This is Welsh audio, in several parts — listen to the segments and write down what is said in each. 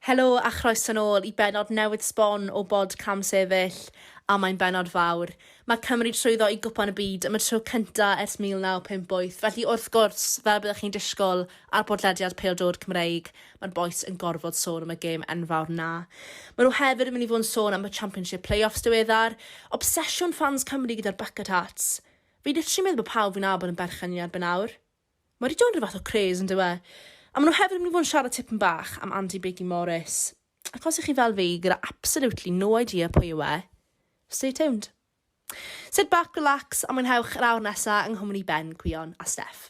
Helo a chroeso'n ôl i benod newydd sbon o bod Cam Sefyll, a mae'n benod fawr. Mae Cymru trwyddo i Gwpan y Byd am y tro cynta ers 1958, felly wrth gwrs, fel byddwch chi'n disgwyl ar bodlediad pêl-droed Cymreig, Mae'r bois yn gorfod sôn am y gêm enfawr 'na. Maen nhw hefyd yn mynd i fod yn sôn am y Championship play-offs diweddar. Obsesiwn ffans Cymru gyda'r bucket hats. Fi literally meddwl bod pawb fi'n nabod yn berchen i erbyn awr. Mae wedi dod yn rhyw fath o craze yndyw e? A maen nhw hefyd yn mynd i fod yn siarad tipyn bach am Andy Biggie Morris. Ac os ych chi fel fi gyda absolutely no idea pwy yw e, stay tuned. Sit back, relax a mwynhewch yr awr nesa yng nghwmni Ben, Cwion a Steff.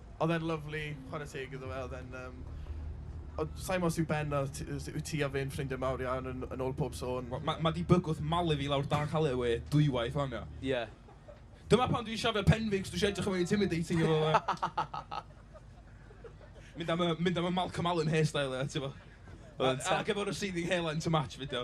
Oedd e'n lyfli, chwarae teg iddo fe, oedd e'n yym... Ond sa i'n gwybod os yw Ben a t- os yw ti a fi'n ffrindiau mawr iawn yn yn ôl pob sôn. Wel, ma' ma' 'di bygwth malu fi lawr dan caled fi dwywaith 'wan, ia. Ie. Dyma pam dwi'n siafio pen fi, cos dwi isio edrych yn fwy intimidating efo fe. Mynd am y mynd am y Malcolm Allen hairstyle, ia, tibod. Oedd e'n te-... Ac efo'r receding hairline to match fyd, ia.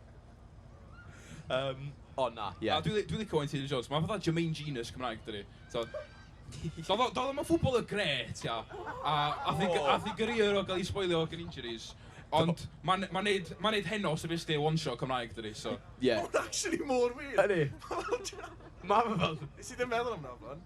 Um, o na, ie. Yeah. Dwi'n dwi licio Wayne Taylor Jones. Mae'n fatha Jermaine Genius Cymraeg, dydy. So, Doedd o ddim yn ffwbol y gret, ia. A ath i gyrier o gael ei spoilio gan injuries. Ond mae'n ma neud, ma neud heno sy'n fes one shot Cymraeg, dydy. So, ie. Yeah. Mae'n actually mor wir. Ydy. Mae fe fel... Nes i ddim meddwl amdano fan.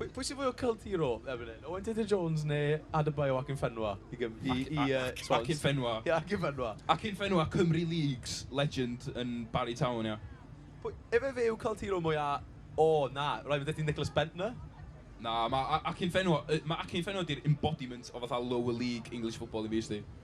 Pwy, pwy sy'n fwy o cult hero erbyn hyn? Owen Tudur Jones neu Adebayo Akinfenwa? I, gym, i, i uh, Swans? Akinfenwa. Ie, yeah, Akinfenwa. Akinfenwa, Cymru Leagues, legend yn Barry Town, ia. Pwy, efe fe yw cult hero mwy a... O, oh, na, rhaid fydde ti Nicholas Bentner? Na, mae Akinfenwa, mae Akinfenwa di'r embodiment o fatha lower league English football i fi, sti.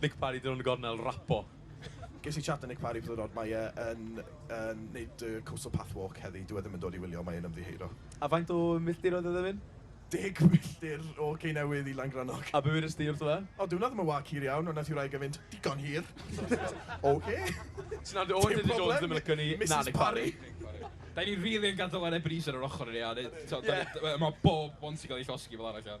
Nick Parry, dyn nhw'n y gornel, Rapo. Ges i chat â Nick Parry peth o'r od, mae e yn yn wneud y Coastal Path Walk heddi, dyw e ddim yn dod i wylio, mae e'n ymddiheuro. A faint o milltir oedd e ddim yn? Deg milltir o Ceinewydd i Langrannog. A be wedest ti wrtho fe? O, dyw hwnna ddim yn wâc hir iawn, ond wnaeth y wraig e fynd, digon hir! Ok! Ti'n nabod Owen Dydy Jones ddim yn licio ni, na Nick Parry. Dan ni rili yn gadael yr Ebenezer ar ochr i ni a neud, tibod, dan ni, mae bob one ti'n cael ei llosgi fel arall ia.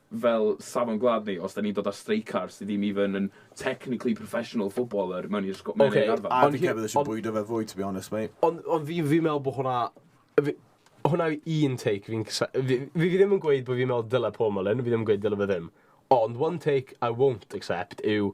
fel safon gwlad ni, os 'da ni'n dod â streicar sydd ddim even yn technically professional footballer mewn i'r sgw- mewn i'r arfau. A fi'n credu eisiau bwydo fe fwy, to be honest, mate. Ond, ond fi, fi'n meddwl bod hwnna... Fi, hwnna yw un take fi'n... Fi, fi ddim yn gweud bod fi'n meddwl dyle Paul Mullin, fi ddim yn gweud dyle fe ddim. Ond one take I won't accept yw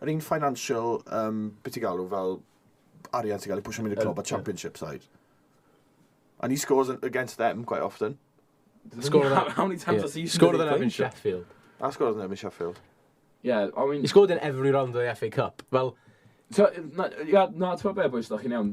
Yr un financial, um, beth ti'n galw, fel arian sy'n cael ei pwysio mynd y clwb a championship side. And he scores against them quite often. Scored how, how many times yeah. has he scored in Evan Sheffield? I scored in Evan Sheffield. Yeah, I mean... He scored in every round of the FA Cup. Well, yeah, na, ti'n meddwl be, boys, da chi'n iawn.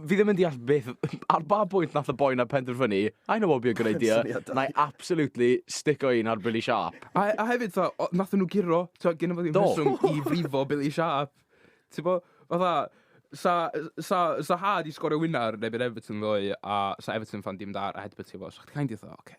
fi ddim yn deall beth, ar ba bwynt nath y boi na penderfynu, I know what would be a good idea, na i absolutely stick o un ar Billy Sharp. A, a hefyd, fa, nath nhw giro, ti'n gwybod, gen i fod i'n rheswm i frifo Billy Sharp. Ti'n bod, fatha, sa, sa, sa ha di sgorio wynar neu byd Everton ddoe, a sa Everton fan dim dar a headbutt i fo, so chdi kind of, oce, okay,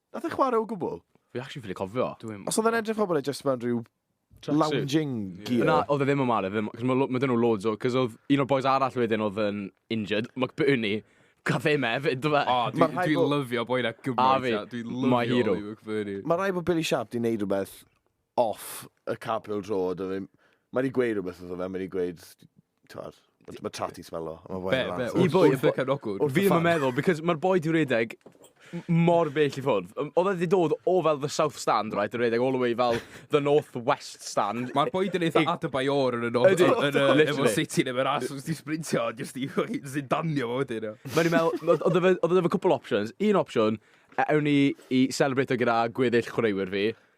Nath e chwarae o gwbl? Fi actually ffili cofio. Dwi'm... Os oedd e'n edrych fel bod e just mewn rhyw lounging gear. Na, oedd e ddim yn mare, ddim, cos mae ma dyn nhw loads o, cos oedd un o'r boys arall wedyn oedd yn injured, McBurney, gath e me fyd, dwi fe. O, dwi'n dwi, dwi lyfio boi na gymaint, dwi'n lyfio Oli McBurney. Mae rhaid bod Billy Sharp di wneud rhywbeth off y Carpenter Road, a mae ma wedi gweud rhywbeth wrtho fe, mae wedi gweud, twad, mae Tati smelo. Be, be, i bwy, y bychan ogwr? Fi ddim yn meddwl, because mae'r boi di redeg mor bell i ffwrdd. Oedd wedi dod o fel the south stand, right, a redeg all the way fel the north west stand. Mae'r boi di eitha Adebayor yn y north, yn y efo city neu fe'r as, os di sprintio, jyst i danio fo wedyn. Mae'n i'n meddwl, oedd oedd oedd cwpl options. Un opsiwn, e- ewn ni i celebrate gyda gweddill chwaraewyr fi.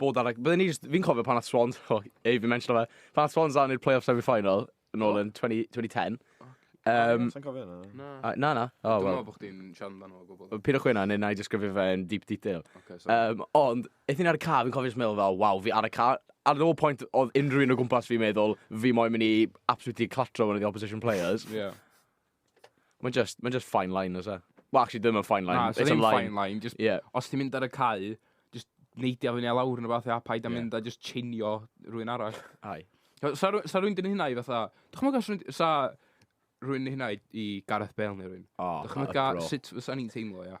bod ar... Like, Byddwn ni just... Fi'n cofio pan at Swans... Oh, ei, fi'n mention fe. Pan at Swans lan i'r playoff semi-final, yn ôl yn 20, 2010. Um, Sa'n cofio yna? Na. Uh, na, na. Oh, Dwi'n meddwl bod chdi'n siarad amdano o gwbl. Pyn o chwina, neu na i just gyfio fe yn deep detail. Okay, um, ond, eith ni'n ar y car, fi'n cofio'n meddwl fel, waw, fi ar y car. Ar no point oedd unrhyw un o gwmpas fi'n meddwl, fi moyn mynd i absolutely clatro one of the opposition players. yeah. Mae'n just, mae'n just fine line, oes e? Well, actually, ddim yn fine line. Na, it's a line. fine line. Just, yeah. Os ti'n mynd ar y cae, just neidio fyny a lawr yn y fath, a paid a yeah. mynd a just chinio rhywun arall. Ai. Sa, sa rhywun dyn hynna i fatha... Dych chi'n meddwl sa rhywun dyn hynna i, i Gareth Bale neu rhywun? Oh, Dych chi'n meddwl sut fysa ni'n teimlo, ia?